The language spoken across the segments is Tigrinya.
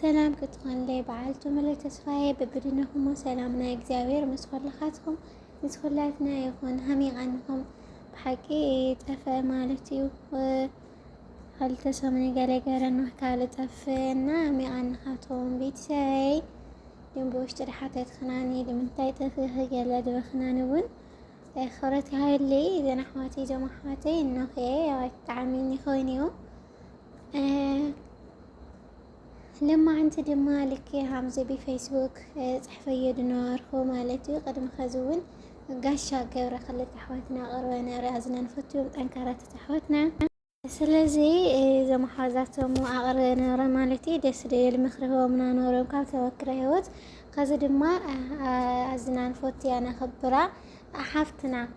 ሰላም ክትኾንለይ በዓልቱ ምሉእ ተስፋየ ብብድንኹሞ ሰላም ናይ እግዚኣብሔር ምስ ኹልኻትኩም ምስ ኹላትና ይኹን ሃሚቓንኹም ብሓቂ ጠፈ ማለት እዩ ኸልተ ሰሙን ገለ ገረና ካብ ልጠፍ እና ሚቓንኻቶም ቤተሰበይ ድም ብውሽጢ ድሓተት ኽናኒ ድምንታይ ጠፍኺ ገለ ድበኽናን እውን ኽብረት ይሃበለይ እዘን ኣሕዋተይ እዞም ኣሕዋተይ እኖኸ ብጣዕሚ ይኸውን እዩ ለማዓንቲ ድማ ልክ ሃምዚ ብፌስቡክ ፅሕፈዮ ድነበርኩ ማለት እዩ ቅድሚ ከዚ እውን ጋሻ ገብረ ክልተ ኣሕዋትና ቅርበ ነረ ኣዝነን ፈትዮም ጠንካራታት ኣሕዋትና ስለዚ እዞም ኣሓዛቶም ኣቕርበ ነረ ማለት እዩ ደስ ደብል ምክሪ ህቦምና ነሮም ካብ ተመክረ ህይወት ከዚ ድማ ኣዝናን ፎትያ ነኽብራ ሓፍትና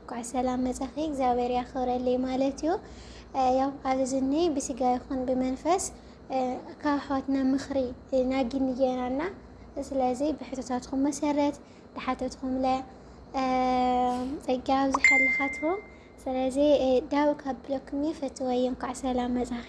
እንኳዕ ሰላም መጻኺ እግዚኣብሔር ያኽብረለይ ማለት እዩ ያው ኣብዚ ዝኒ ብስጋ ይኹን ብመንፈስ ካብ ኣሕዋትና ምኽሪ ናጊኒ ጌና እና ስለዚ ብሕቶታትኩም መሰረት ድሓተትኩም ለ ጸጋ ኣብዝሓልኻትኩም ስለዚ ዳው ካብ ብሎክኒ ፈትወይ እንኳዕ ሰላም መጻኺ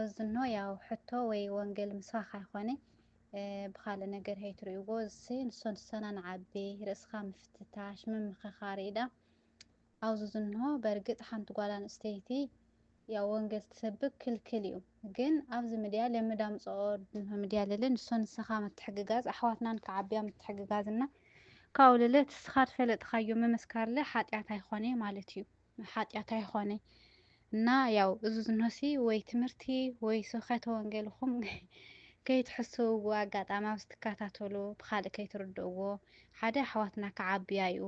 እዝኖ ያው ሕቶ ወይ ወንገል ምስባክ ኣይኮነ ብካልእ ነገር ሀይትሪእዎ እዝሲ ንሶን ንሰናን ዓቢ ርእስካ ምፍትታሽ ምምክካር እዩ ዳም ኣውዝ ዝንሆ በርግጥ ሓንቲ ጓል ኣንእስተይቲ ያው ወንገል ትሰብክ ክልክል እዩ ግን ኣብዚ ምድያ ለምድ ኣምጽኦ ድንሆ ምድያ ልለ ንሶን ንሰካ ምትሕግጋዝ ኣሕዋትናን ክዓብያ ምትሕግጋዝ እና ካውልለ ትስካ ድፈለጥካዮ ምምስካርለ ሓጥያት ኣይኮነ ማለት እዩ ሓጢኣት ኣይኾነይ እና ያው እዚ ዝኖሲ ወይ ትምህርቲ ወይ ስብከተ ወንጌልኹም ከይትሕስውዎ ኣጋጣሚ ኣብ ዝትከታተሉ ብካልእ ከይትርድእዎ ሓደ ኣሕዋትና ክዓብያ እዩ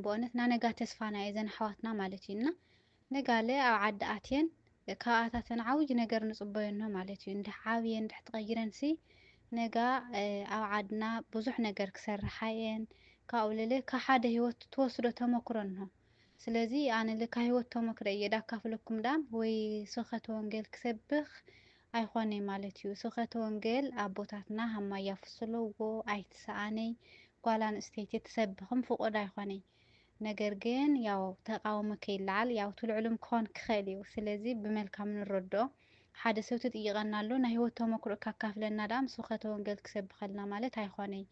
ብእውነት እና ነጋ ተስፋና እየ ዘን ኣሕዋትና ማለት እዩ እና ነጋለ ኣብ ዓዲ ኣትየን ካብኣታተን ዓብይ ነገር ንፅበየኖ ማለት እዩ እንድሕ ዓብየን እንድሕ ተቐይረንሲ ነጋ ኣብ ዓድና ብዙሕ ነገር ክሰርሓ እየን ካብኡ ልለ ካብ ሓደ ሂወት ትወስዶ ተመክሮ እንሆ ስለዚ ኣነ ል ካብ ሂወት ተመክረይ እየ ዳካፍለኩም ዳም ወይ ስብከተ ወንጌል ክሰብክ ኣይኾነይ ማለት እዩ ስብከተ ወንጌል ኣቦታትና ሃማይ ያፍስለዎ ኣይትሰኣነይ ጓል ኣንእስተይቲ ትሰብክም ፍቁድ ኣይኾነይ ነገር ግን ያው ተቃውሞ ከይለዓል ያው ትልዕሉም ክኾን ክኸእል እዩ ስለዚ ብመልካም ንረድኦ ሓደ ሰብ ትጥይቀና ኣሎ ናይ ህይወት ተመክሮ ካካፍለና ደኣ ምስ ውኸተ ወንገል ክሰብኸልና ማለት ኣይኾነይ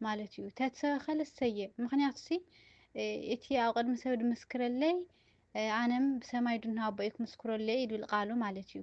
ማለት እዩ ተትሰበኸለ ሰየ ምክንያቱ ሲ እቲ ኣብ ቅድሚ ሰብ ድምስክረለይ ኣነም ብሰማይ ድና ኣቦይ ክምስክረለይ ይብል ቃሉ ማለት እዩ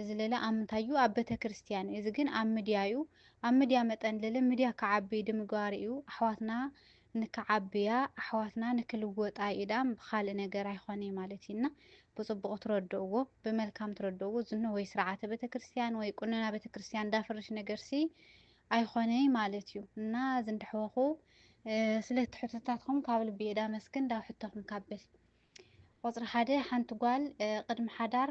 እዚ ለለ ኣብ ምንታይ እዩ ኣብ በተክርስትያን እዩ እዚ ግን ኣብ ምድያ እዩ ኣብ ምድያ መጠን ለለ ምድያ ክዓቢ ድምግባር እዩ ኣሕዋትና ንክዓብያ ኣሕዋትና ንክልወጣ እዩ ዳኣም ብካልእ ነገር ኣይኮነይ ማለት እዩ እና ብፅቡቁ ትረድእዎ ብመልካም ትረድእዎ እዚ እነሆይ ስርዓተ በተክርስትያን ወይ ቁነና በተክርስትያን ዳፍርሽ ነገርሲ ኣይኮነይ ማለት እዩ እና እዚ እንዳሕወኩ ስለቲ ሕቶታትኩም ካብ ልቢ እየ ዳመስግን ዳብ ሕቶኩም ካብል ቁፅሪ ሓደ ሓንቲ ጓል ቅድሚ ሓዳር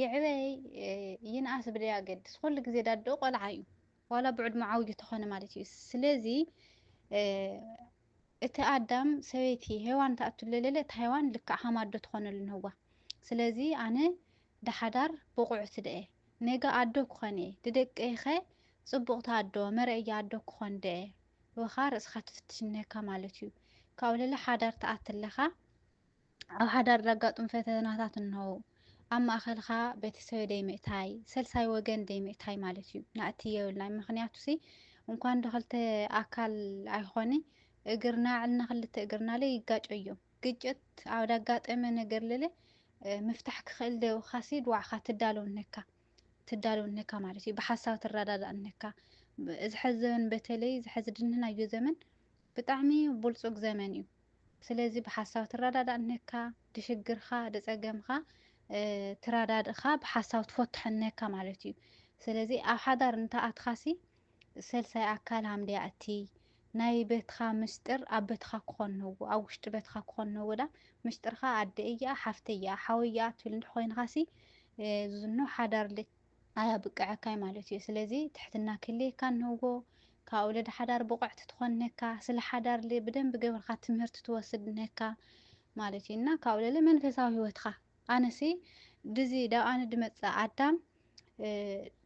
ይዕበይ ይንኣስ ብደያገድስ ኹሉ ግዜ ዳድኡ ቆልዓ እዩ ዋላ ብዕድሙ ዓውዩ ተኾነ ማለት እዩ ስለዚ እቲ ኣዳም ሰበይቲ ሄዋን ተኣቱ ለለለ እታ ሄዋን ልክዕ ሃማዶ ትኾነሉ ንህዋ ስለዚ ኣነ ዳሓዳር ብቑዕቲ ደኤ ነጋ ኣዶ ክኾን እየ ድደቀይኸ ጽቡቕቲ ኣዶ መረእያ ኣዶ ክኾን ደኤ ወኻ ርእስኻ ትፍትሽ ንህካ ማለት እዩ ካብኡ ለለ ሓዳር ተኣቲ ኣለኻ ኣብ ሓዳር ዘጋጥሙ ፈተናታት እንሆዉ። ኣብ ማእከልካ ቤተሰበ ደይምእታይ፣ ሰልሳይ ወገን ደይምእታይ ማለት እዩ። ናእቲ የብልናይ ምክንያቱሲ እንኳን ዶክልተ ኣካል ኣይኾኒ እግርና ዕልና ክልተ እግርናለ ይጋጨዮ። ግጭት ኣብ ዳጋጠመ ነገርለለ ምፍታሕ ክክእል ደውካሲ ድዋዕካ ትዳለው ነካ ትዳለው ነካ ማለት እዩ። ብሓሳብ ትረዳዳእ ነካ። እዚ ሐዚ ዘመን በተለይ እዚ ሐዚ ድንህናዮ ዘመን ብጣዕሚ ቡልጹግ ዘመን እዩ። ስለዚ ብሓሳብ ትራዳዳእ እነካ ድሽግርካ ድጸገምካ ትራዳድእካ ብሓሳብ ትፎትሖ እነካ ማለት እዩ ስለዚ ኣብ ሓዳር እንተ ኣትካሲ ሰልሳይ ኣካል ሃምድያ እቲ ናይ በትካ ምስጥር ኣብ በትካ ክኾን ነዎ ኣብ ውሽጢ በትካ ክኾን ነዎ ዳ ምስጥርካ ኣደ እያ ሓፍተ እያ ሓወ እያ ትብል እንድኾይንካሲ ዝኖ ሓዳር ኣያብቅዐካይ ማለት እዩ ስለዚ ትሕትና ክህልየካ ንህጎ ካኡ ልድ ሓዳር ብቁዕት ትኮን ነካ ስለ ሓዳር ል ብደንብ ገብርካ ትምህርት ትወስድ ነካ ማለት እዩ እና ካኡ ለለ መንፈሳዊ ህይወትካ ኣነ ሲ ድዚ ዳብ ኣነ ድመጽእ ኣዳም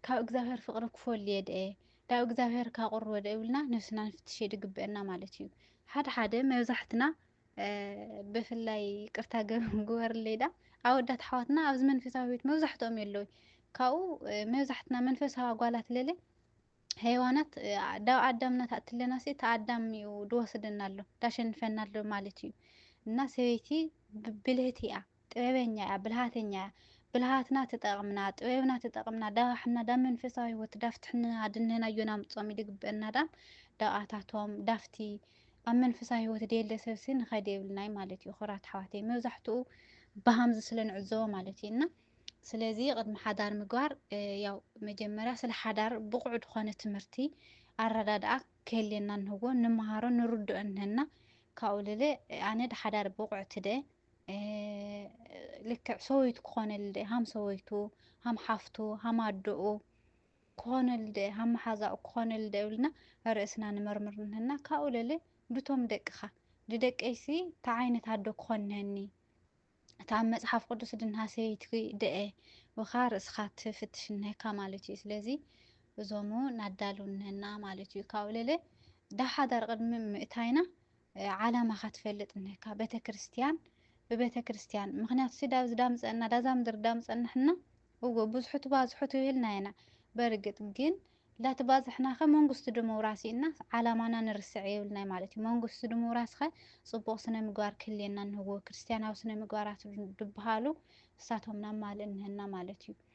ካብ እግዚኣብሔር ፍቅሪ ክፎል እየ ደኤ ዳብ እግዚኣብሔር ካቁርወ ደኤ ብልና ነብስና ንፍትሽ እየ ድግበእና ማለት እዩ ሓደ ሓደ መብዛሕትና ብፍላይ ቅርታ ግበርለይ ዳ ኣወዳት ኣሕዋትና ኣብዚ መንፈሳዊ ህይወት መብዛሕትኦም የለውይ ካብኡ መብዛሕትና መንፈሳዊ ኣጓላት ለለ ሄዋናት ዳብ ኣዳምና ታእትለና ሲ እቲ ኣዳም እዩ ድወስደና ኣሎ ዳሸንፈና ኣሎ ማለት እዩ እና ሰበይቲ ብልህቲ እያ ጥበበኛ እያ ብልሃተኛ እያ ብልሃትና ትጠቅምና ጥበብና ትጠቅምና ዳባሕና ዳብ መንፈሳዊ ህይወት ዳፍትሕና ኣድንህና እዮና ምጾም ይድግበና ዳም ደቃታቶም ዳፍቲ ኣብ መንፈሳዊ ህይወት ደየለ ሰብሲ ንኸድ የብልናይ ማለት እዩ ክብራት ኣሕዋተይ መብዛሕትኡ ብሃምዚ ስለ ንዕዘቦ ማለት እዩ እና ስለዚ ቅድሚ ሓዳር ምግባር ያው መጀመርያ ስለ ሓዳር ብቑዕ ዝኾነ ትምህርቲ ኣረዳድኣ ክህልየና ንህዎ ንመሃሮ ንርድኦ ንህና ካብኡ ልለ ኣነ ድሓዳር ብቑዕ ትደ ልክዕ ሰወይቱ ክኾነሉ ደ ሃም ሰወይቱ ሃም ሓፍቱ ሃም ኣደኡ ክኾነሉ ደ ሃም መሓዛኡ ክኾነሉ ደ እብልና ርእስና ንመርምር ንህና ካብኡ ለለ ድቶም ደቅኻ ድደቀይሲ እንታይ ዓይነት ኣዶ ክኾን ንህኒ እቲ ኣብ መጽሓፍ ቅዱስ ድንሃ ሰይቲ ደአ ወኻ ርእስኻ ትፍትሽ ንህካ ማለት እዩ ስለዚ እዞሙ ናዳሉ ንህና ማለት እዩ ካብኡ ለለ ዳሓዳር ቅድሚ ምእታይና ዓላማኻ ትፈልጥ እነካ ቤተክርስትያን ብቤተክርስትያን ምክንያቱ ሲ ዳብዚ ዳምፀእና ዳዛ ምድሪ ዳምፀእና ሕና እወ ብዙሑ ትባዝሑ ትብህልና ኢና በርግጥ ግን ላትባዝሕናኸ መንግስቱ ድምውራስ እና ዓላማና ንርስዕ የብልናይ ማለት እዩ መንግስቱ ድምውራስኸ ፅቡቕ ስነ ምግባር ክህልየና እንህዎ ክርስትያናዊ ስነ ምግባራት ድብሃሉ እሳቶም ናብ ማልእ እንህና ማለት እዩ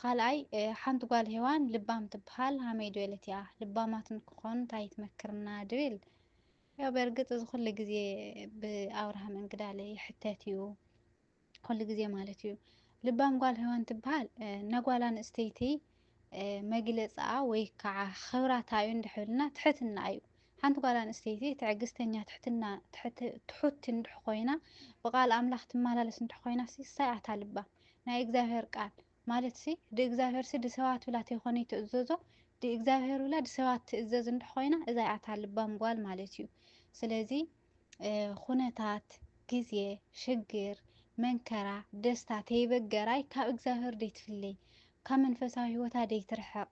ኻልኣይ ሓንቲ ጓል ሄዋን ልባም ትብሃል ሃመይ ድበለት እያ ልባማት ንክኾኑ እንታይ ትመክርና ድብል ያው በርግጥ እዚ ኩሉ ግዜ ብኣብርሃም እንግዳለ ይሕተት እዩ ኩሉ ግዜ ማለት እዩ ልባም ጓል ሄዋን ትብሃል ነጓል ኣንስተይቲ መግለፅኣ ወይ ከዓ ኽብራታ እዩ እንድሕብልና ትሕትና እዩ ሓንቲ ጓል ኣንስተይቲ ትዕግስተኛ፣ ትሕትና፣ ትሑቲ እንድሕ ኮይና ብቃል ኣምላኽ ትማላለስ እንድሕ ኮይናሲ ሳይ ኣታ ልባ ናይ እግዚኣብሔር ቃል ማለትሲ ድእግዚኣብሔርሲ ድሰባት ብላ ተይኮነይ ትእዘዞ ድእግዚኣብሔር ብላ ድሰባት ትእዘዝ እንድሕ ኮይና እዛይ ኣታ ልባም ጓል ማለት እዩ ስለዚ ኹነታት፣ ግዜ፣ ሽግር፣ መንከራ፣ ደስታ ተይበገራይ ካብ እግዚኣብሔር ደይትፍለይ፣ ካብ መንፈሳዊ ሕይወታ ደይትርሕቕ፣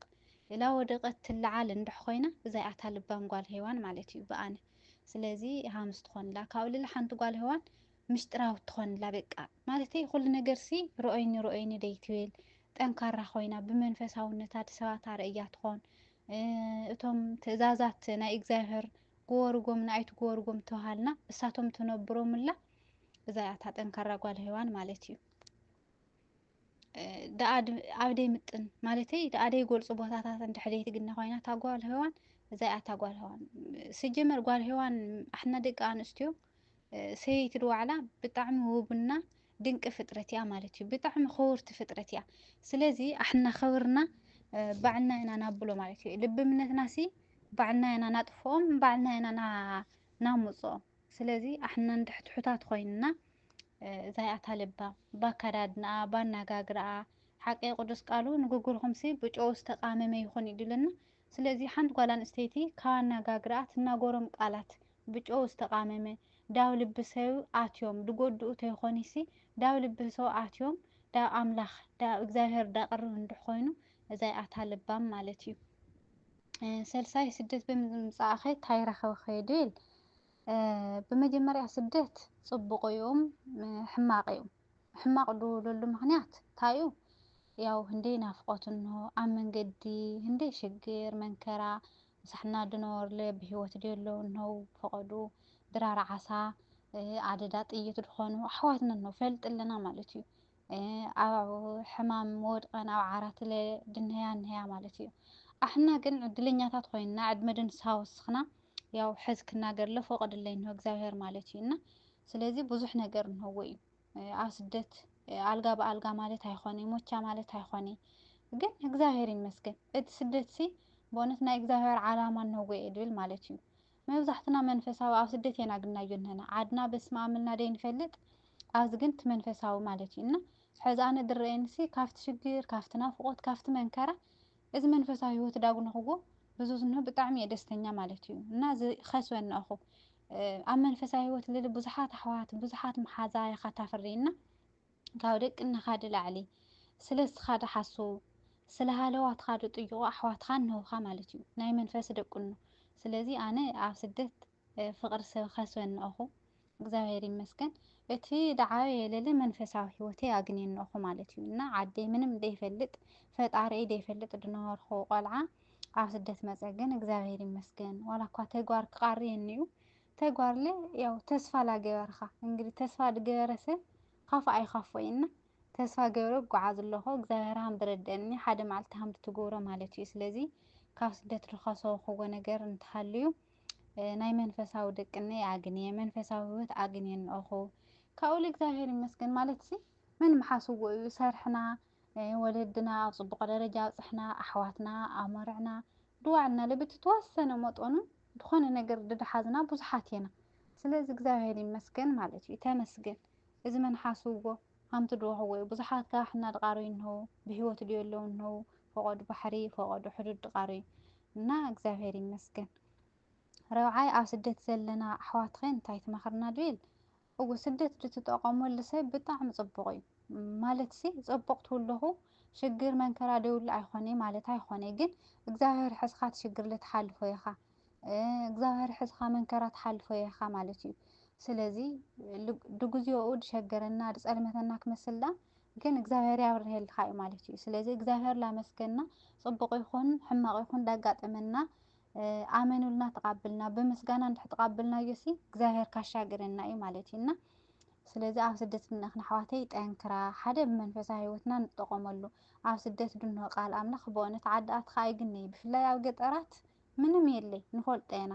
ላወደቐት ትለዓል እንድሕ ኾይና እዛይኣታ ልባም ጓል ሄዋን ማለት እዩ ብኣነ ስለዚ ሃምስ ትኾንላ ካብኡ ልሊ ሓንቲ ጓል ሄዋን ምሽጥራውት ትኾንላ በቃ ማለተይ ኹሉ ነገርሲ ርኦይኒ ርኦይኒ ደይትብል ጠንካራ ኾይና ብመንፈሳውነታ ድሰባት ኣርእያ ትኾን እቶም ትእዛዛት ናይ እግዚኣብሔር ጎወርጎምና ኣይትጎወርጎም ተባሃልና እሳቶም ትነብሮምላ እዛ እያ እታ ጠንካራ ጓል ሄዋን ማለት እዩ ደኣ ኣብ ደይምጥን ማለተይ ደኣ ደይገልፁ ቦታታት እንድሕር ደይትግነ ኮይና እታ ጓል ሄዋን እዛ እያ እታ ጓል ሄዋን ስጀመር ጓል ሄዋን ኣሕና ደቂ ኣንስትዮ ሰየይቲ ድዋዕላ ብጣዕሚ ውብና ድንቂ ፍጥረት እያ ማለት እዩ ብጣዕሚ ክውርቲ ፍጥረት እያ ስለዚ ኣሕና ከብርና ባዕልና ኢና ናብሎ ማለት እዩ ልቢ እምነትና ሲ ባዕልና ኢና ናጥፍኦም ባዕልና ኢና ናምፅኦም ስለዚ ኣሕና ንድሕትሑታት ኮይንና ዛይኣታ ልባ ባካዳድናኣ ባናጋግራኣ ሓቂ ቅዱስ ቃሉ ንግግርኹምሲ ብጨው ዝተቃመመ ይኹን ይድልና ስለዚ ሓንቲ ጓል ኣንስተይቲ ካብ ኣነጋግርኣ ትናገሮም ቃላት ብጨው ዝተቓመመ ዳብ ልቢ ሰው ኣትዮም ድጎድኡ ተይኾኒሲ ዳብ ልቢ ሰው ኣትዮም ዳብ ኣምላኽ ዳብ እግዚኣብሔር ዳቅርብ እንድሕ ኾይኑ እዛይ ኣታ ለባም ማለት እዩ። ሰልሳይ ስደት ብምምጻእኸ ታይ ረኸብኸ ይብል ብመጀመርያ ስደት ጽቡቅ እዩም ሕማቅ እዩም። ሕማቅ ድውለሉ ምክንያት ታዩ ያው ህንደይ ናፍቆት እንሆ ኣብ መንገዲ ህንደይ ሽግር መንከራ ምሳሕና ድነወርለ ብህይወት ድየለው እንሆው ፈቀዱ ድራር ዓሳ ኣደዳ ጥይት ድኮኑ ኣሕዋትና እንሆ ፈልጥ ኣለና ማለት እዩ ኣብ ሕማም ወድቀን ኣብ ዓራትለ ድንሀያ እንሀያ ማለት እዩ ኣሕና ግን ዕድለኛታት ኮይንና ዕድመ ድንሳ ወስክና ያው ሕዝ ክናገር ለ ፈቀድለይ እንሆ እግዚኣብሔር ማለት እዩ እና ስለዚህ ብዙሕ ነገር እንሆዎ እዩ ኣብ ስደት ኣልጋ ብኣልጋ ማለት ኣይኾነ ሞቻ ማለት ኣይኾነ ግን እግዚኣብሔር ይመስገን እቲ ስደት ሲ በእውነት ናይ እግዚኣብሔር ዓላማ እንሆዎ እየ ድብል ማለት እዩ መብዛሕትና መንፈሳዊ ኣብ ስደት እየን ኣግናዮ እንሀና ዓድና በስመ ኣብ እልና ደይንፈልጥ ኣብዚ ግን እቲ መንፈሳዊ ማለት እዩ እና ሕዚ ኣነ ድረአየንሲ ካብቲ ሽግር ካብቲ ናፍቆት ካብቲ መንከራ እዚ መንፈሳዊ ህይወት ዳጉንክዎ ብዙዝ እንሆ ብጣዕሚ እየ ደስተኛ ማለት እዩ እና እዚ ኸስበ እነእኹ ኣብ መንፈሳዊ ህይወት ልል ብዙሓት ኣሕዋት ብዙሓት መሓዛ የኻ ታፍሪ እና ካብ ደቂ እነኻዲ ላዕሊ ስለ ስኻዲ ሓሱ ስለ ሃለዋ ትኻዲ ጥይቑ ኣሕዋትኻ እንሆኻ ማለት እዩ ናይ መንፈስ ደቁኖ ስለዚ ኣነ ኣብ ስደት ፍቅሪ ሰብ ኸስበ እንኦኹ እግዚኣብሔር ይመስገን እቲ ድዓበየ ለለ መንፈሳዊ ህይወተይ ኣግንየ እንኦኹ ማለት እዩ እና ዓደይ ምንም ደይፈልጥ ፈጣሪኤይ ደይፈልጥ ድነበርኹ ቆልዓ ኣብ ስደት መፀ ግን እግዚኣብሔር ይመስገን ዋላ እኳ ተግባር ክቃሪ እንዩ ተግባርለ ያው ተስፋ ላገበርኻ እንግዲህ ተስፋ ድገበረ ሰብ ኻፉእ ኣይኻፎ እዩ እና ተስፋ ገብረ ጉዓዝ ኣለኹ እግዚኣብሔር ሃም ድረደእኒ ሓደ መዓልቲ ሃም ድትግብሮ ማለት እዩ ስለዚ ካብ ስደት ድኸሰብኹዎ ነገር እንተሃልዩ ናይ መንፈሳዊ ደቅነይ ኣግንየ መንፈሳዊ ህይወት ኣግንየ እንኦኹ ካብኡ ልእግዚኣብሔር ይመስገን ማለት ሲ መን ምሓስዎ እዩ ሰርሕና ወለድና ኣብ ፅቡቕ ደረጃ ኣብፅሕና ኣሕዋትና ኣመርዕና ድዋዕልና ልብቲ ተወሰነ መጠኑ ዝኾነ ነገር ድድሓዝና ብዙሓት ኢና ስለዚ እግዚኣብሔር ይመስገን ማለት እዩ ተመስገን እዚ መን ሓስዎ ኣንቲ ዶ ሐወይ ብዙሓት ጋሕ እና ድቃረዩ እንሀው ብህይወት ድዮ ኣለው እንሀው ፈቆዱ ባሕሪ ፈቆዱ ሕዱድ ድቃረዩ እና እግዚኣብሔር ይመስገን ረብዓይ ኣብ ስደት ዘለና ኣሕዋትኸ እንታይ ትመኽርና ድብል እው ስደት ድትጠቀመሉ ሰብ ብጣዕሚ ፅቡቅ እዩ ማለትሲ ፅቡቅ ትብለኹ ሽግር መንከራ ደይብሉ ኣይኾነይ ማለት ኣይኾነይ ግን እግዚኣብሔር ሕዝኻ ትሽግር ልትሓልፎ ኢኻ እግዚኣብሔር ሕዝኻ መንከራ ትሓልፎ ኢኻ ማለት እዩ ስለዚ ድግዚኦኡ ድሸገረና ድጸልመተና ክመስል ዳ ግን እግዚኣብሔር ያብርሄልካ እዩ ማለት እዩ ስለዚ እግዚኣብሔር ላመስገና ጽቡቅ ይኹን ሕማቅ ይኹን ዳጋጠመና ኣመኑልና ተቃብልና ብምስጋና እንድሕ ተቃብልና እዩሲ እግዚኣብሔር ካሻግረና እዩ ማለት እዩ እና ስለዚ ኣብ ስደት ድንእኽን ኣሕዋተይ ጠንክራ ሓደ ብመንፈሳዊ ህይወትና ንጠቐመሉ ኣብ ስደት ድንሆ ቃል ኣምላኽ ብእውነት ዓዲ ኣትኻ ኣይግነይ ብፍላይ ኣብ ገጠራት ምንም የለይ ንፈልጦ ኢና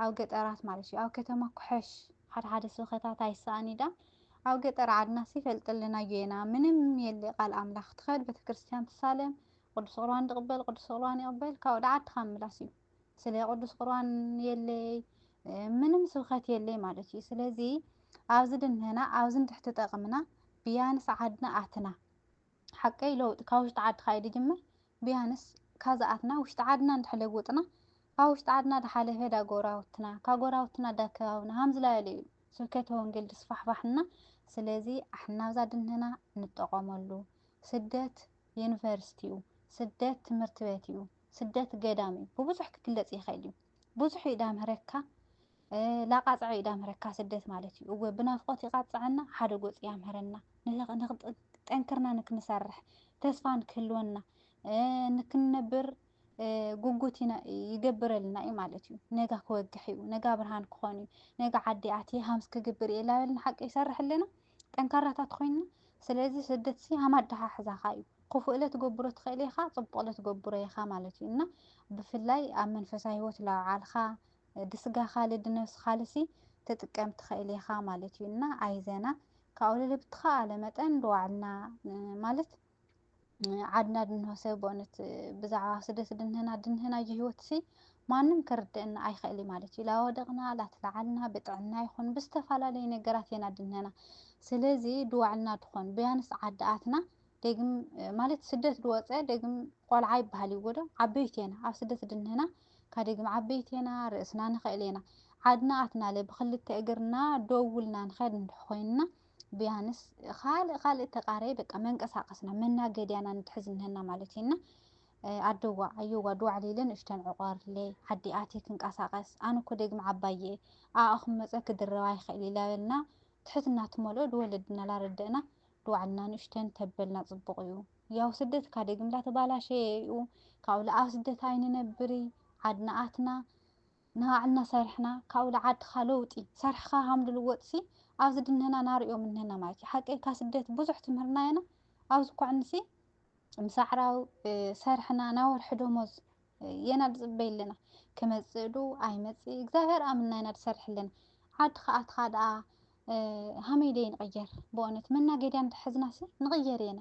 ኣብ ገጠራት ማለት እዩ ኣብ ከተማ ኩሐሽ ሓደ ሓደ ስብከታት ኣይሰኣን ኢዳ ኣብ ገጠር ዓድናስ ይፈልጥልናዮ ኢና ምንም የለይ ቃል ኣምላክ ትከድ ቤተክርስትያን ትሳለም ቅዱስ ቁርባን ድቅበል ቅዱስ ቁርባን ይቅበል ካብ ወደ ዓድካ ምምላስ እዩ ስለ ቅዱስ ቁርባን የለይ ምንም ስብከት የለይ ማለት እዩ ስለዚ ኣብዚ ድንህና ኣብዚ ንትሕቲ ጠቅምና ብያንስ ዓድና ኣትና ሓቀይ ለውጢ ካብ ውሽጢ ዓድካ እዩ ድጅምር ብያንስ ካዛኣትና ውሽጢ ዓድና እንድሕር ለውጥና ካብ ውሽጢ ዓድና ዳሓለፈ ዳ ጎራውትና ካብ ጎራውትና ዳ ከባብና ሃምዝላበለ እዩ ስብከተ ወንጌል ድስፋሕፋሕ እና ስለዚ ኣሕና ኣብዛ ድንህና ንጠቆመሉ ስደት የንቨርስቲ እዩ ስደት ትምህርት በት እዩ ስደት ገዳም እዩ ብቡዙሕ ክግለፅ ይክእል እዩ ብዙሕ ዩ ዳምህረካ ላቃጽዐ ዩ ዳምህረካ ስደት ማለት ዩ እወ ብናፍቆት ይቃጽዐና ሓደ ጎጽ ያምህረና ጠንክርና ንክንሰርሕ ተስፋ ንክህልወና ንክንነብር ጉጉት ይገብረልና ዩ ማለት ዩ ነጋ ክወግሕ ዩ ነጋ ብርሃን ክኾን ዩ ነጋ ዓዲ ኣትየ ሃምስ ክግብር የ ላበልና ሓቂ ይሰርሐልና ጠንካራታት ኮይና ስለዚ ስደት ሲ ሃም ኣደሓሕዛኻ እዩ ክፉእ ለትገብሮ ትኽእል ኢኻ ጽቡቕ ለትገብሮ ኢኻ ማለት እዩ እና ብፍላይ ኣብ መንፈሳዊ ህይወት ላውዓልካ ድስጋኻ ልድነብስኻል ሲ ትጥቀም ትኽእል ኢኻ ማለት እዩ እና ኣይዘና ካብኡ ልብትኻ ኣለ መጠን ድዋዕልና ማለት ዓድና ድንሆ ሰብ በእውነት ብዛዕባ ስደት ድንህና ድንህናዮ ህይወት ሲ ማንም ክርድእና ኣይኽእል እዩ ማለት እዩ። ላወደቕና ላተላዓልና ብጥዕና ይኹን ብዝተፈላለዩ ነገራት ኢና ድንህና። ስለዚ ድዋዕልና ድኾን ብያንስ ዓድኣትና ደግም ማለት ስደት ድወፀ ደግም ቆልዓ ይበሃል እዩ ወዶ ዓበይቲ ኢና ኣብ ስደት ድንህና ካብ ደግም ዓበይቲ ኢና ርእስና ንኽእል ኢና ዓድና ኣትናለ ብክልተ እግርና ደውልና ንኸድ እንድሕ ኮይንና ብያንስ ካልእ ካልእ ተቃረየ በቃ መንቀሳቀስና መናገድያና ንትሕዝ እንሀና ማለት እዩ እና ኣደዋ ኣየዋ ድዋዕ ሌለ ንእሽተን ዕቆርለ ዓዲ ኣቴ ክንቀሳቀስ ኣነ እኮ ደግሚ ዓባየ ኣኣኹም መፀ ክድረባ ኣይኽእል ኢላበልና ትሕትና ትመልኦ ድወለድና ላረደእና ድዋዕልና ንእሽተን ተበልና ፅቡቅ እዩ ያው ስደት እካ ደግም ላተባላሸየ እዩ ካብኡ ለኣብ ስደት ኣይንነብርይ ዓድና ኣትና ንኣዕልና ሰሪሕና ካብኡ ልዓድካ ለውጢ ሰርሕካ ሃምሉ ልወጥሲ ኣብዚ ድንህና ናርኦ ምንህና ማለትዩ ሓቀይ ካብ ስደት ብዙሕ ትምህርና የና ኣብዚ ኮዕንሲ ምስ ኣዕራዊ ሰርሕና ናይ ወርሒ ደሞዝ የና ልጽበይ ኣለና ክመጽእ ዱ ኣይመጽእ እግዚኣብሔር ኣምና የና ልሰርሕ ኣለና ዓዲ ከኣትካ ደኣ ሃመይ ደይ ንቕየር ብኦነት መናገድያ እንተሕዝናሲ ንቕየር የና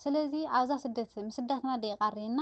ስለዚ ኣብዛ ስደት ምስዳትና ደይ ቃርየና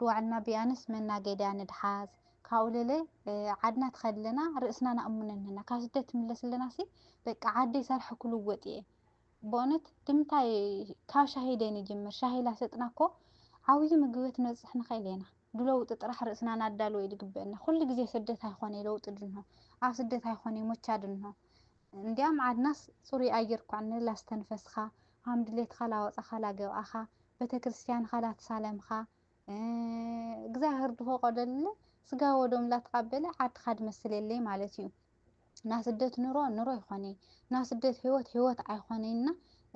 ብዋዕልና ቢኣንስ መናገድያ ንድሓዝ ካብኡ ለለ ዓድና ትኸድለና ርእስና ናእሙነንና ካብ ስደት ትምለስለናሲ በቃ ዓደይ ሰርሐ ክልወጥ እየ በእውነት ድምታይ ካብ ሻሂደይ ንጅምር ሻሂ ላሰጥና እኮ ዓብዩ ምግበት ንበፅሕ ንኸእል ኢና ድለውጢ ጥራሕ ርእስና ናዳለወ እዩ ድግበእና ኩሉ ግዜ ስደት ኣይኮነ ለውጢ ድንሆ ኣብ ስደት ኣይኮነ ሞቻ ድንሆ እንዲያም ዓድናስ ፅሩይ ኣየር ኳዕ ንላስተንፈስኻ ሃም ድሌትኻ ላወጻኻ ላገብኣኻ ቤተክርስቲያንኻ ላተሳለምኻ እግዛብሄር ድፈቆደልለ ስጋ ወደሙ ላተቃበለ ዓድኻ ድመስል የለይ ማለት እዩ ናስደት ኑሮ ኑሮ ኣይኾነይ ናስደት ህይወት ህይወት ኣይኾነይ እና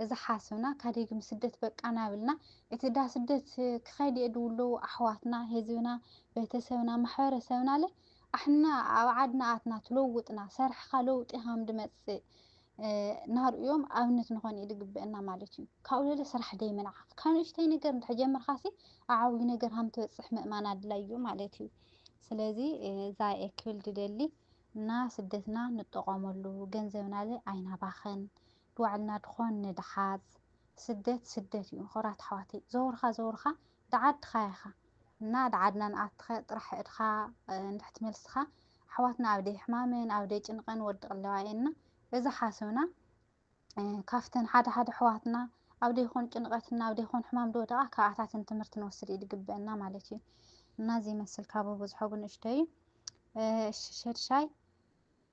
እዛ ሓስብና ካደግም ስደት በቃ ናብልና እቲ ዳስደት ክኸድ እየ ድውለው ኣሕዋትና ህዝብና ቤተሰብና ማሕበረ ሰብናለ ኣሕና ኣብ ዓድና ኣትና ትለውጥና ሰርሕኻ ለውጢ ሃም ድመጽእ ናርእዮም ኣብነት ንኾን ድግበእና ማለት እዩ ካብኡ ለለ ስራሕ ደይምንዓቕ ካብ ንእሽተይ ነገር እንድሕር ጀምርካሲ ኣዓብዩ ነገር ሃም ትበጽሕ ምእማን ኣድላይ እዩ ማለት እዩ ስለዚ ዛኤ ክብል ድደሊ እና ስደትና ንጠቐመሉ ገንዘብናለ ኣይናባኸን ድዋዕልና ድኾን ንድሓዝ ስደት ስደት እዩ ኾራት ኣሕዋተይ ዘወርካ ዘወርካ ደዓድኻ ኢኻ እና ደዓድና ንኣትኸ ጥራሕ እድኻ እንድሕ ትመልስኻ ኣሕዋትና ኣብ ደይ ሕማምን ኣብ ደይ ጭንቐን ወድቕ ኣለዋ እየና እዛ ሓስብና ካፍተን ሓደ ሓደ ኣሕዋትና ኣብ ደይ ኾን ጭንቐት እና ኣብ ደይ ኾን ሕማም ድወደቓ ካብኣታትን ትምህርቲ ንወስድ እዩ ድግበእና ማለት እዩ እና እዚ ይመስል ካብ ብዙሖ ብንእሽተዩ እሺ ሸድሻይ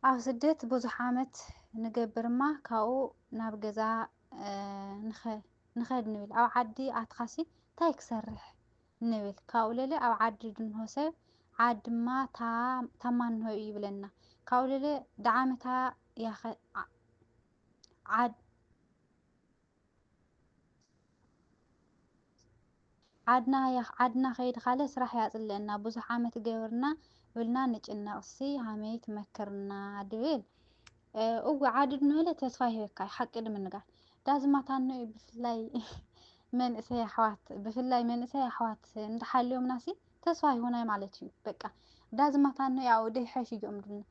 ኣብ ስደት ብዙሕ ዓመት ንገብር እማ ካብኡ ናብ ገዛ ንኸድ ንብል ኣብ ዓዲ ኣትኻሲ ታይ ክሰርሕ ንብል ካብኡ ለለ ኣብ ዓዲ ድንሆ ሰብ ዓዲ እማ ታማንሆ እዩ ይብለና ካብኡ ለለ ዳዓመታ ያኸ ዓድ ዓድና ያኽ ዓድና ከይድኻለ ስራሕ ያጽልእና ብዙሕ ዓመት ገብርና ብልና ንጭነቅ ሲ ሃመይ ትመክርና ድብል እወ ዓዲ ድንበለ ተስፋ ይህበካ ሓቂ ድምንጋር ዳዚ ማታኖ እዩ ብፍላይ መንእሰይ ኣሕዋት ብፍላይ መንእሰይ ኣሕዋት እንተሓልዮምና ሲ ተስፋ ይሆናይ ማለት እዩ በቃ ዳዚ ማታኖ ያው ደይሐሽ እዮም ድብልና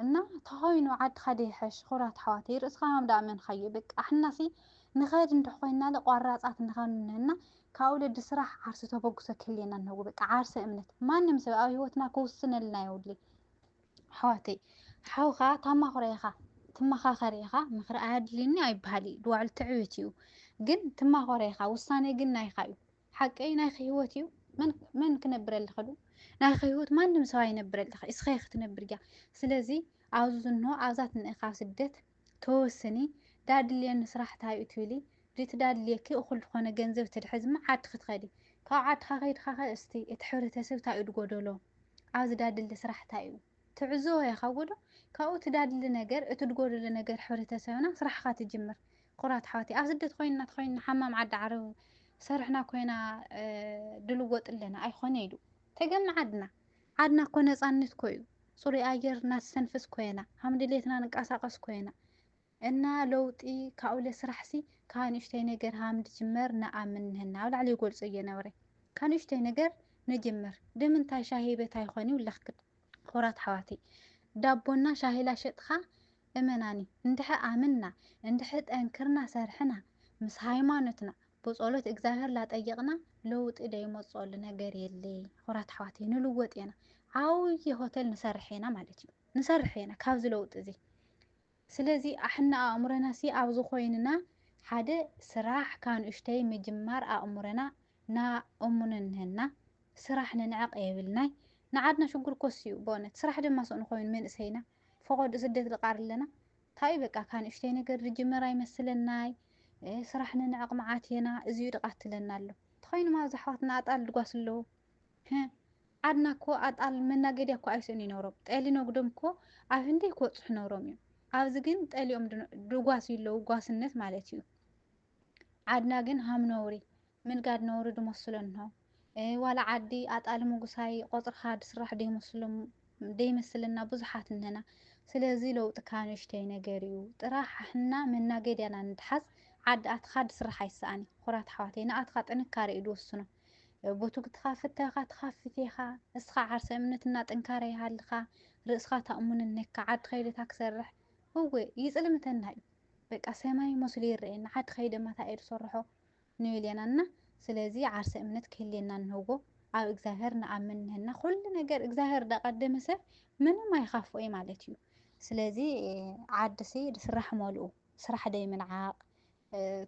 እና ተኾይኑ ዓድኻ ዶ ይሐሽ ኹራት ኣሕዋተይ ርእስኻ ሃም ዳኣ ኣመንኻዮ በቃ ኣሕናሲ ንኸድ እንድሕ ኾይናለ ቋራጻት ንኸን እና ካብ ወለዲ ስራሕ ዓርሰ ተበግሶ ክህልየና እንሀዎ በቃ ዓርሰ እምነት ማንም ሰብ ኣብ ህይወትና ክውስነልና የውድሊ ኣሕዋተይ ሓው ኸኣ ታማኽሮ ኢኻ ትመኻኸር ኢኻ ምኽሪ ኣየድልይኒ ኣይበሃልይ ድዋዕሉ ትዕብት እዩ ግን ትማኾረ ኢኻ ውሳኔ ግን ናይኻ እዩ ሓቀይ ናይኺ ህይወት እዩ መን መን ክነብረልኺ ዶ ናይኺ ህይወት ማንም ሰብ ኣይነብረልኺ እስኺ ክትነብር እያ ስለዚ ኣብዚ ዝንሆ ኣብዛ ትንእኻ ስደት ተወስኒ ዳድልየኒ ስራሕ ታይ እዩ ትብሊ ድቲ ዳድልየኪ እኹል ዝኾነ ገንዘብ ትድሕዚ እማ ዓድኺ ትኸዲ ካብ ዓድኻ ከይድኻ ኸ እስቲ እቲ ሕብረተሰብ ታይ እዩ ድጎደሎ ኣብዚ ዳድሊ ስራሕ ታይ እዩ ትዕዞ ያካቦዶ ካብኡ ትዳድሊ ነገር እት ድጎዶሎ ነገር ሕብረተሰብና ስራሕካ ትጅምር ኩራት ኣሕዋተይ ኣብ ስደት ኮይንና ተኮይንና ሓማም ዓዲ ዓረብ ሰርሕና ኮይና ድልወጥ ኣለና ኣይኮነ ኢሉ ተገም ዓድና ዓድና እኮ ነፃነት ኮዩ ፅሩይ ኣየር ናትስተንፍስ ኮየና ሃምድልየትና ንቃሳቀስ ኮየና እና ለውጢ ካብኡ ለስራሕ ሲ ካብ ንእሽተይ ነገር ሃም ንጅመር ንኣምን ንህና ኣብ ላዕሊ ይገልጾ እየ ነብረ ካብ ንእሽተይ ነገር ነጀምር ደምንታይ ሻሂ ቤት ኣይኾን ይውለኽ ክድ ኹራት ኣሕዋተይ ዳቦና ሻሂ ላሸጥኻ እመናኒ እንድሕ ኣምንና እንድሕ ጠንክርና ሰርሕና ምስ ሃይማኖትና ብጾሎት እግዛብሄር ላጠየቅና ለውጢ ደይመጾሉ ነገር የለይ ኹራት ኣሕዋተይ ንልወጥ የና ዓውዪ ሆተል ንሰርሕ የና ማለት እዩ ንሰርሕ የና ካብዚ ለውጢ እዚ ስለዚ ኣሕና ኣእምሮናሲ ኣብዚ ኮይንና ሓደ ስራሕ ካንኡሽተይ ምጅማር ኣእምሮና ና እሙን እንሀና ስራሕ ንንዕቅ የብልናይ ንዓድና ሽጉር ኮስዩ በእውነት ስራሕ ድማ ስእኑ ኮይኑ መንእሰይና ፈቆድኡ ስደት ልቃር ኣለና ታዩ በቃ ካንኡሽተይ ነገር ልጅመር ኣይመስለናይ ስራሕ ንንዕቅ ምዓት የና እዚዩ ድቃትለና ኣሎ ተኮይኑማ ኣብዚ ኣሕዋትና ኣጣል ድጓስ ኣለዉ ህህ ዓድና እኮ ኣጣል መናገድያ እኮ ኣይስእኑ ይነብሮም ጠሊ ነጉዶም እኮ ኣብ ህንደይ ክበጽሑ ነብሮም እዮም ኣብዚ ግን ጠሊኦም ድጓስዩ ኣለዉ ጓስነት ማለት እዩ ዓድና ግን ሃም ነውሪ ምንጋድ ነውሪ ድመስሎ እንሆ ዋላ ዓዲ ኣጣሊ ምጉሳይ ቆጽርካ ድስራሕ ደይመስለና ብዙሓት እንህና ስለዚ ለውጢ ካብ ንእሽተይ ነገር እዩ ጥራሕ ኣሕና መናገድያና ንትሓዝ ዓዲ ኣትኻ ድስራሕ ኣይሰኣን ኩራት ኣሕዋተይ ንኣትኻ ጥንካረ እዩ ድውስኖ ቦትጉትኻ ፍተካ ትካፍት ኢካ እስኻ ዓርሰ እምነት እና ጥንካረ ይሃልኻ ርእስኻ ታእሙንን ነካ ዓዲ ከይደ እታ ክሰርሕ እወ ይጽልምተና እዩ በቃ ሰማይ መስሉ ይረኤና ዓዲ ከይደ እማ ታይ እየ ዝሰርሖ ንብል የና እና ስለዚ ዓርሰ እምነት ክህልየና ንህቦ ኣብ እግዚኣብሔር ንኣምን ንህና ኩሉ ነገር እግዚኣብሔር ዳቀደመ ሰብ ምንም ኣይኻፍኦ እዩ ማለት እዩ ስለዚ ዓዲ ሲ ስራሕ መልኡ ስራሕ ደይ ምንዓቅ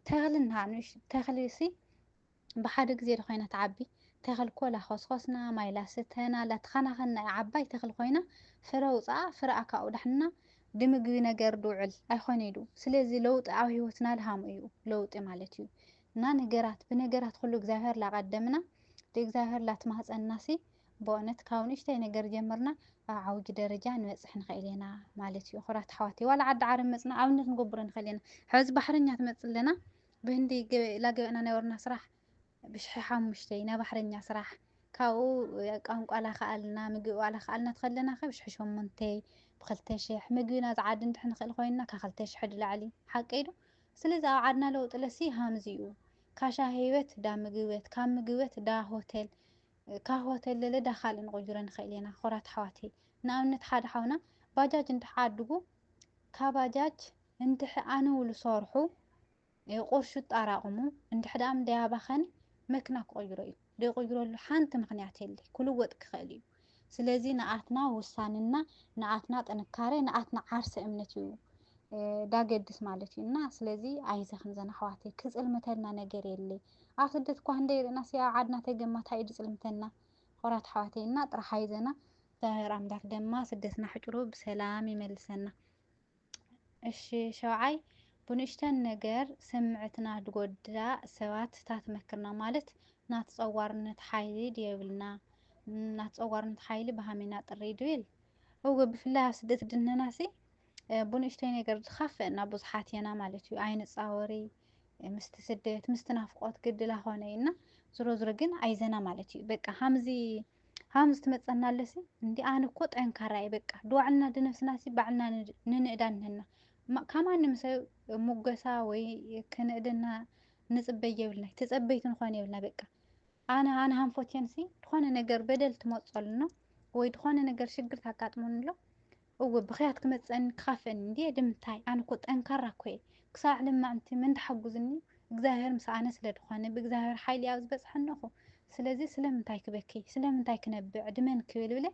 ተኽሊ እንሃ ንእሽ ተኽሊ ሲ ብሓደ ግዜ ዶ ኮይና ትዓቢ ተኽል ኮላ ኾስኾስና ማይ ላስተና ላተኻናኸንና እያ ዓባይ ተኽሊ ኮይና ፍረ ውፅኣ ፍረኣ ካብኡ ዳሕንና ድምግቢ ነገር ድውዕል ኣይኾነይ ዱ ስለዚ ለውጢ ኣብ ህይወትና ልሃሙ እዩ ለውጢ ማለት እዩ እና ነገራት ብነገራት ኹሉ እግዚኣብሔር ላቀደምና ልእግዚኣብሔር ላትማህፀንና ሲ በእውነት ካብ ንእሽተይ ነገር ጀምርና ኣብ ዓውጅ ደረጃ ንበጽሕ ንክእል ኢና ማለት እዩ ኩራት ኣሕዋተይ ዋላ ዓዲ ዓረብ መጽና ኣብነት ንገብሮ ንክእል ኢና ሐዚ ባሕረኛ ትመጽእ ኣለና ብህንዲ ላገበእና ናይ ወርና ስራሕ ብሽሐ ሓሙሽተይ ናይ ባሕረኛ ስራሕ ካብኡ ቋንቋ ላክኣልና ምግቢ ዋላ ክኣልና ትኸለና ከ ብሽሐ ሸሙንተይ ብክልተ ሽሕ ምግቢ ናዝ ዓዲ እንድሕ ንክእል ኮይንና ካብ ክልተ ሽሕ ድላዕሊ ሓቀይ ዶ ስለዚ ኣብ ዓድና ለውጥለሲ ሃምዚ እዩ ካሻ ህይወት ዳ ምግበት ካብ ምግበት ዳ ሆተል ካህዋት ኣለለ ዳ ካልእ ንቁጅሮ ንክእል ኤና ኮራት ኣሕዋት ንኣብነት ሓደ ሓውና ባጃጅ እንድሕ ዓድጉ ካባጃጅ እንድሕ ኣንውሉ ሰርሑ ቁርሹ ጣራቅሙ እንድሕ ዳኣም ደይ ኣባከነ መክና ክቅይሮ እዩ ደይ ቁይረሉ ሓንቲ ምክንያት የለይ ኩልወጥ ክክእል እዩ ስለዚ ንኣትና ውሳንና ንኣትና ጥንካረ ንኣትና ዓርሰ እምነት እዩ ዳገድስ ማለት እዩ እና ስለዚ ኣይዘክን ዘን ኣሕዋተይ ክጽልምተልና ነገር የለይ ኣብ ስደት እኳ ህንደይ ርኢናሲ ኣብ ዓድና ተገማ ታይ እዩ ዝፅልምተና ኹራት ኣሕዋተይ እና ጥራሕ ኣይዘና እግዚኣብሔር ኣምላክ ደማ ስደትና ሕጭሩ ብሰላም ይመልሰና እሺ ሸውዓይ ብንእሽተን ነገር ስምዕትና ድጎዳእ ሰባት ታትመክርና ማለት ናት ፀዋርነት ሓይሊ ድየብልና ናት ፀዋርነት ሓይሊ ብሃሜና ጥሪ ድብል እወ ብፍላይ ኣብ ስደት ድነናሲ ብንእሽተይ ነገር ድኻፍእና ብዙሓት የና ማለት እዩ ኣይንፃወሪ ምስቲ ስደት ምስቲ ናፍቆት ግድላ ኾነ እና ዝሮ ዝሮ ግን ኣይዘና ማለት እዩ በቃ ሀምዚ ሀምዚ ትመፀና ኣለሲ እንዲ ኣነ እኮ ጠንካራ እየ በቃ ድዋዕልና ድነፍስና ሲ ባዕልና ንንእዳ ንህና ካብ ማንም ሰብ ሙገሳ ወይ ክንእድና ንፅበይ የብልና ተፀበይቲ ንኾን የብልና በቃ ኣነ ኣነ ሃንፎቴንሲ ዝኾነ ነገር በደል ትመፀሉ ነው ወይ ዝኾነ ነገር ሽግር ታጋጥሙን ኣሎ እወ ብኽያት ክመጸኒ ክካፈእኒ እንድየ ድምታይ ኣነ እኮ ጠንካራ እኮየ ክሳዕ ልማዕንቲ መን ድሓጉዝኒ እግዛብሄር ምስ ኣነ ስለ ድኮነ ብእግዛብሄር ሓይሊ ኣብ ዝበጽሐኒ እኹ ስለዚ ስለምንታይ ክበኪ ስለምንታይ ክነብዕ ዕድመን ክብል ብለ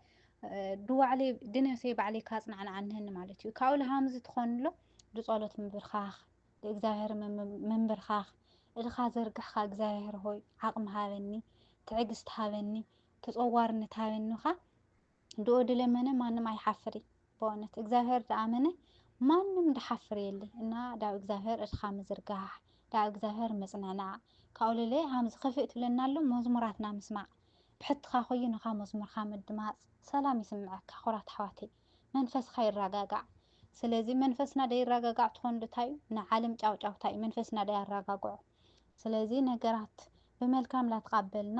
ድዋዕለይ ድነብሰይ ባዕለይ ካጽናዕናዓ እንሀኒ ማለት እዩ ካብኡ ልሃምዚ ትኾንሎ ድጸሎት ምብርካኽ ድእግዛብሄር ምምብርካኽ እድኻ ዘርግሕካ እግዛብሄር ሆይ ዓቅሚ ሃበኒ ትዕግስቲ ሃበኒ ተጸዋርነት ሃበኒ እኻ ድኦ ድለመነ ማንም ኣይሓፍር እይ በእውነት እግዚኣብሔር ድኣመነ ማንም ድሓፍር የለ እና ዳብ እግዚኣብሔር እድካ ምዝርጋሕ ዳብ እግዚኣብሔር ምፅንዕናዕ ካኡልለ ሃምዝ ክፍእ ትብለና ኣሎ መዝሙራትና ምስማዕ ብሕትካ ኮይኑካ መዝሙርካ ምድማፅ ሰላም ይስምዐካ ኩራት ኣሕዋተይ መንፈስካ ይራጋጋዕ ስለዚ መንፈስና ደይራጋጋዕ ትኾን ዶታዩ ንዓለም ጫውጫውታዩ መንፈስና ደያራጋግዖ ስለዚ ነገራት ብመልካም ላትቃበልና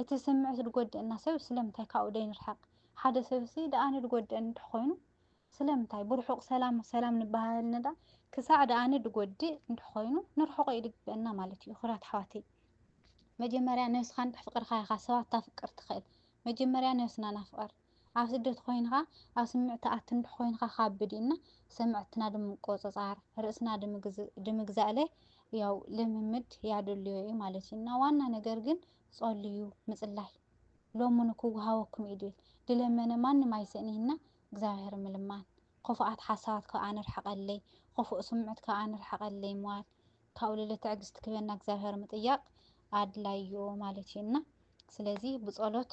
እቲ ስምዒት ድጎድእና ሰብ ስለምንታይ ካብኡ ደይንርሕቅ ሓደ ሰብሲ ድኣኒ ድጎድእኒ እንድሕ ኮይኑ ስለምንታይ ብርሑቅ ሰላም ሰላም ንበሃሃል ነዳ ክሳዕ ድኣኒ ድጎድእ እንድሕ ኮይኑ ንርሕቆ እዩ ድግበእና ማለት እዩ ክብራት ኣሕዋተይ መጀመርያ ነብስካ እንድሕ ፍቅርካ ኢካ ሰባት ታፍቅር ትክእል መጀመርያ ነብስና ናፍቅር ኣብ ስደት ኮይንኻ ኣብ ስምዕታ ኣትንብሕ ኮይንኻ ካብድ እዩ እና ሰምዕትና ድምቆጸጻር ርእስና ድምግዛእለ ያው ልምምድ ያድልዮ እዩ ማለት እዩ እና ዋና ነገር ግን ጸልዩ ምጽላይ ሎሙኑ ክወሃወኩም እዩ ድል ድለመነ ማንም ኣይስእን እና እግዚኣብሔር ምልማን ኹፍኣት ሓሳባት ከኣ ንርሕቀለይ ኹፍእ ስምዕት ከኣ ንርሕቀለይ ምዋል ካብኡ ልለ ትዕግስት ክበና እግዚኣብሔር ምጥያቅ ኣድላይ እዩ ማለት እዩ እና ስለዚ ብጸሎት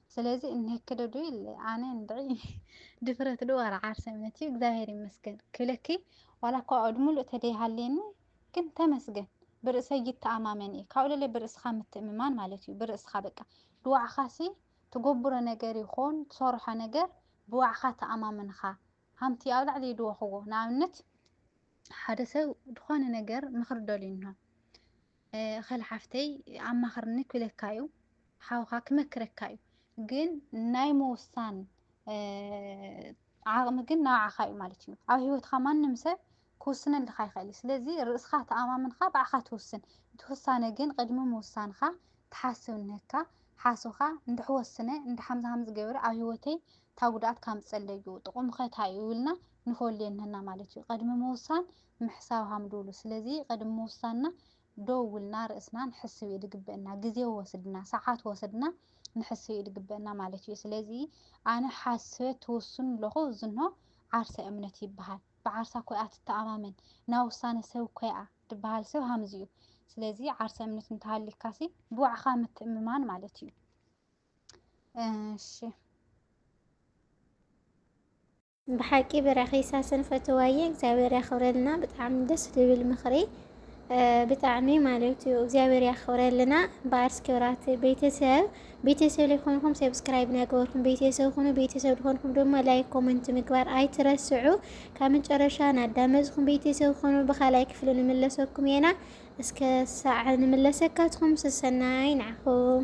ስለዚ እንክደ ዶ ኢለ ኣነ እንድዒ ድፍረት ዶ ዋላ ዓርሰ እምነት እዩ እግዚኣብሔር ይመስገን ክብለኪ ዋላ እኳ ኣእድ ሙሉእ ተደይሃልየኒ ግን ተመስገን ብርእሰይ ይተኣማመን እየ ካብኡ ለለ ብርእስኻ ምትእምማን ማለት እዩ ብርእስኻ በቃ ብዋዕኻሲ ትጎብሮ ነገር ይኾን ትሰርሖ ነገር ብዋዕኻ ተኣማምንኻ ሃምቲ ኣብ ላዕሊ ይድወኽዎ ንኣብነት ሓደ ሰብ ዝኾነ ነገር ምኽሪ ደልዩ እንሆ ኸል ሓፍተይ ኣማኽርኒ ክብለካ እዩ ሓውኻ ክመክረካ እዩ ግን ናይ ምውሳን ዓቕሚ ግን ናብዓኻ እዩ ማለት እዩ ኣብ ህይወትካ ማንም ሰብ ክውስነልካ ይኽእል እዩ ስለዚ ርእስኻ ተኣማምንካ ባዕኻ ትውስን እቲ ውሳነ ግን ቅድሚ ምውሳንካ ትሓስብ እንህካ ሓስብካ እንድሕ ወስነ እንድሕ ሃምዚ ሃምዚ ገብረ ኣብ ህይወተይ እታ ጉድኣት ካምፀለይ እዩ ጥቕሙ ከ እንታይ እዩ ኢልና ንፈልዮ እንህና ማለት እዩ ቅድሚ ምውሳን ምሕሳው ሃምዱሉ ስለዚ ቅድሚ ምውሳንና ደው ኢልና ርእስና ንሕስብ ኢዩ ድግበእና ግዜ ወስድና ሰዓት ወስድና ንሕስብ ኢዩ ድግበእና ማለት ኢዩ ስለዚ ኣነ ሓስበ ትውስኑ ኣለኹ እዝኖ ዓርሰ እምነት ይብሃል ብዓርሳ ኮይኣ ትተኣማመን ናብ ውሳነ ሰብ ኮይኣ ድብሃል ሰብ ሃምዚ ኢዩ ስለዚ ዓርሰ እምነት እንተሃሊካሲ ብባዕኻ ምትእምማን ማለት ኢዩ እሺ ብሓቂ ብራኺ ሳሰን ፈትዋየ እግዚኣብሔር ያኽብረልና ብጣዕሚ ደስ ዝብል ምኽሪ ብጣዕሚ ማለት እዩ እግዚኣብሔር ያኽብረልና በኣርስ ክብራት ቤተሰብ ቤተሰብ ሊኾንኩም ሰብስክራይብ ናገበርኩም ቤተሰብ ኹኑ ቤተሰብ ሊኾንኩም ድማ ላይክ ኮመንት ምግባር ኣይትረስዑ ካብ መጨረሻ ናዳመፅኩም ቤተሰብ ኹኑ ብካላይ ክፍሊ ንምለሰኩም የና እስከ ሳዕ ንምለሰካትኩም ስሰናይ ንዓኹም